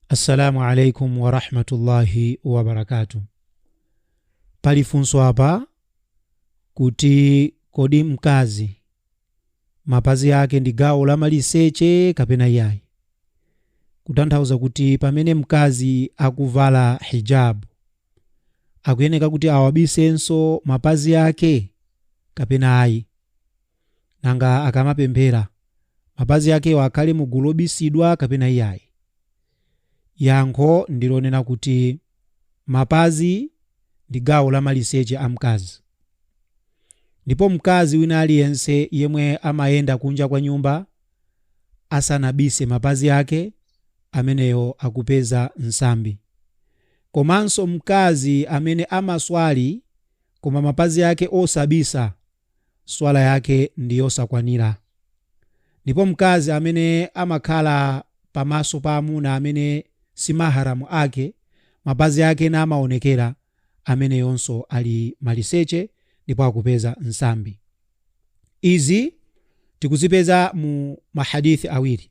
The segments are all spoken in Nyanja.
Assalamu alaikum wa rahmatullahi wa barakatuh. Pali funso apa kuti kodi mkazi mapazi ake ndi gawo la maliseche kapena iyayi? Kutanthauza kuti pamene mkazi akuvala hijab akuyeneka kuti awabisenso mapazi ake kapena ayi? Nanga akamapemphera, mapazi akewo akhale mu gulu lobisidwa kapena iyayi? Yankho ndi lonena kuti mapazi ndi gawo la maliseche a mkazi. Ndipo mkazi wina aliyense yemwe amayenda kunja kwa nyumba asanabise mapazi ake, ameneyo akupeza nsambi. Komanso mkazi amene amaswali koma mapazi ake osabisa, swala yake ndi yosakwanira. Ndipo mkazi amene amakhala pa maso pa amuna amene si mahram ake, mapazi ake namaonekera, ameneyonso ali maliseche ndipo akupeza nsambi. Izi tikuzipeza mu ma hadith awiri.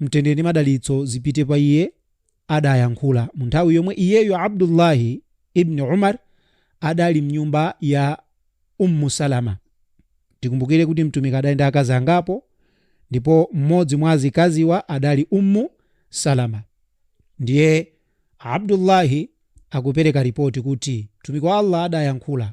mtendere ndi madalitso zipite pa iye adayankhula mu nthawi yomwe iyeyo abdullahi ibni umar adali mnyumba ya ummu salama tikumbukire kuti mtumiki adali ndi akazi angapo ndipo mmodzi mwa azikaziwa adali ummu salama ndiye abdullahi akupereka ripoti kuti mtumiki wa allah adayankhula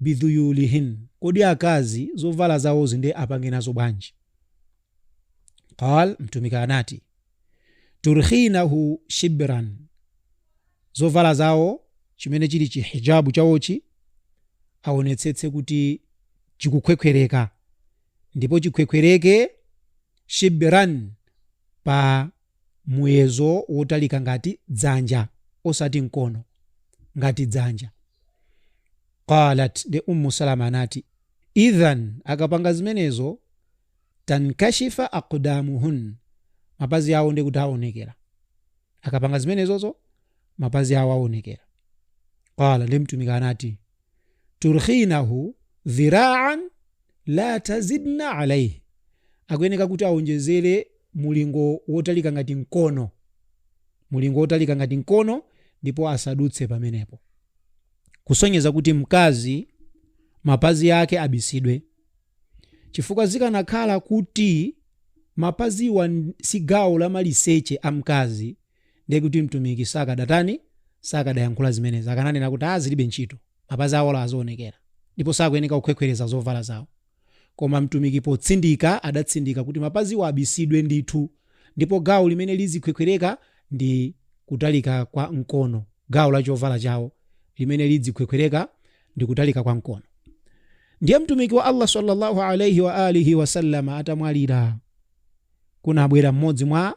bidhuyulihin, Kodi akazi zovala zawozi nde apange nazo bwanji? Qaal, Mtumiki anati, Turkhinahu shibran, zovala zawo chimene chili chi hijabu chawochi aonetsetse kuti chikukhwekhwereka ndipo chikhwekhwereke shibran pa muyezo wotalika ngati dzanja osati mkono, ngati dzanja. Qaalat, nde Ummu Salamah anati, Idhan, akapanga zimenezo, tankashifa aqdamuhun, mapazi awo nde kuti aonekera. Akapanga zimenezozo, mapazi awo aonekera. Qaala, nde Mtumiki anati, turkhinahu dhiraan la tazidna alaihi akuyeneka kuti awonjezere mulingo wotalika ngati mkono mulingo wotalika ngati mkono ndipo asadutse pamenepo kusonyeza kuti mkazi mapazi ake abisidwe chifukwa zikanakhala kuti mapaziwa si gawo la maliseche a mkazi ndiye kuti Mtumiki sakadatani? Sakadayankhula zimenezi, akananena kuti, ah zilibe ntchito, mapazi awo azionekera ndipo sakuyeneka kukhwekhwereza zovala zawo. Koma Mtumiki potsindika adatsindika kuti mapaziwo abisidwe ndithu, ndipo gawo limene lizikhwekhwereka ndi kutalika kwa mkono, gawo la chovala chawo limene lidzikhwekhwereka ndi kutalika kwa mkono. Ndiye Mtumiki wa Allah sallallahu alayhi wa alihi wasallam atamwalira, kunabwera mmodzi mwa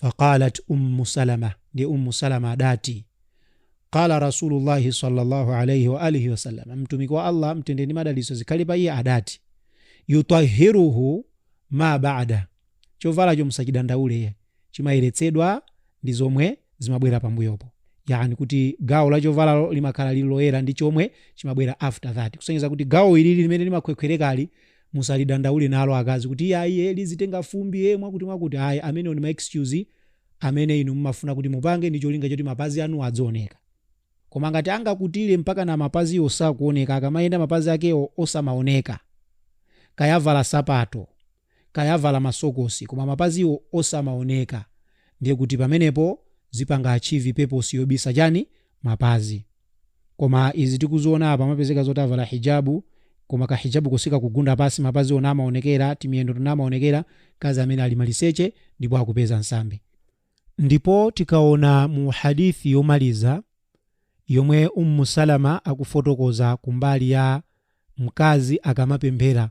faqalat ummu salama ndi ummu salama adati qala rasulullahi sallallahu alaihi wa alihi wasallam mtumiki wa allah mtendere ndi madalitso zikhale pa iye adati yutahiruhu ma bada chovalacho musachidandaule chimayeretsedwa ndi zomwe zimabwera pambuyopo yani kuti gawo la chovalalo limakhala lili loyera ndi chomwe chimabwera after that kusonyeza kuti gawo ilili limene limakhwekhwerekali Musalidandaule nalo, akazi, kuti, Ayi, iye lizitenga fumbi, e, mwakuti-n-mwakuti. Ayi, amenewo ndi ma excuse amene inu mumafuna kuti mupange ndi cholinga choti mapazi anuwo adzioneka. Koma ngati angakutire mpakana mapaziwo sakuoneka, akamayenda mapazi akewo osamaoneka, kaya avala sapato, kaya avala masokosi, koma mapaziwo osamaoneka, ndiye kuti pamenepo zipanga achieve purpose yobisa chani? Mapazi. koma izi tikuziona apa amapezeka zoti avala hijabu koma ka hijabuko sikakugunda pasi mapazi onse amaonekera timiyendo tonse amaonekera mkazi amene ali maliseche ndipo akupeza nsambi ndipo tikaona mu hadith yomaliza yomwe Ummu Salama akufotokoza kumbali ya mkazi akamapemphera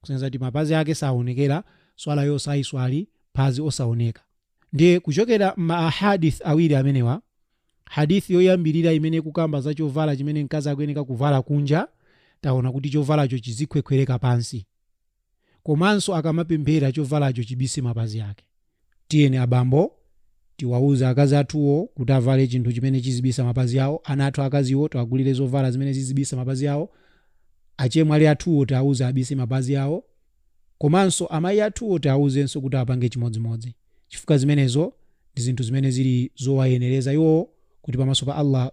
kusonyeza kuti mapazi ake asaonekere, swalayo aziswali phazi osaoneka. Ndiye kuchokera m'ma ahaadith awiri amenewa, hadith yoyambirira imene ikukamba za chovala chimene mkazi akuyeneka kuvala kunja, taona kuti chovalacho chizikhwekhwereka pansi. Komanso akamapemphera chovalacho chibise mapazi ake. Tiyeni abambo, tiwauze akazi athuwo kuti avale chinthu chimene chizibisa mapazi awo, ana athu aakaziwo tiwagulire zovala zimene zizibisa mapazi awo, achemwali athuwo tiwauze abise mapazi awo, komanso amayi athuwo tiwauzenso kuti apange chimodzimodzi, chifukwa zimenezo ndi zinthu zimene zili zowayenereza iwowo kuti pamaso pa Allah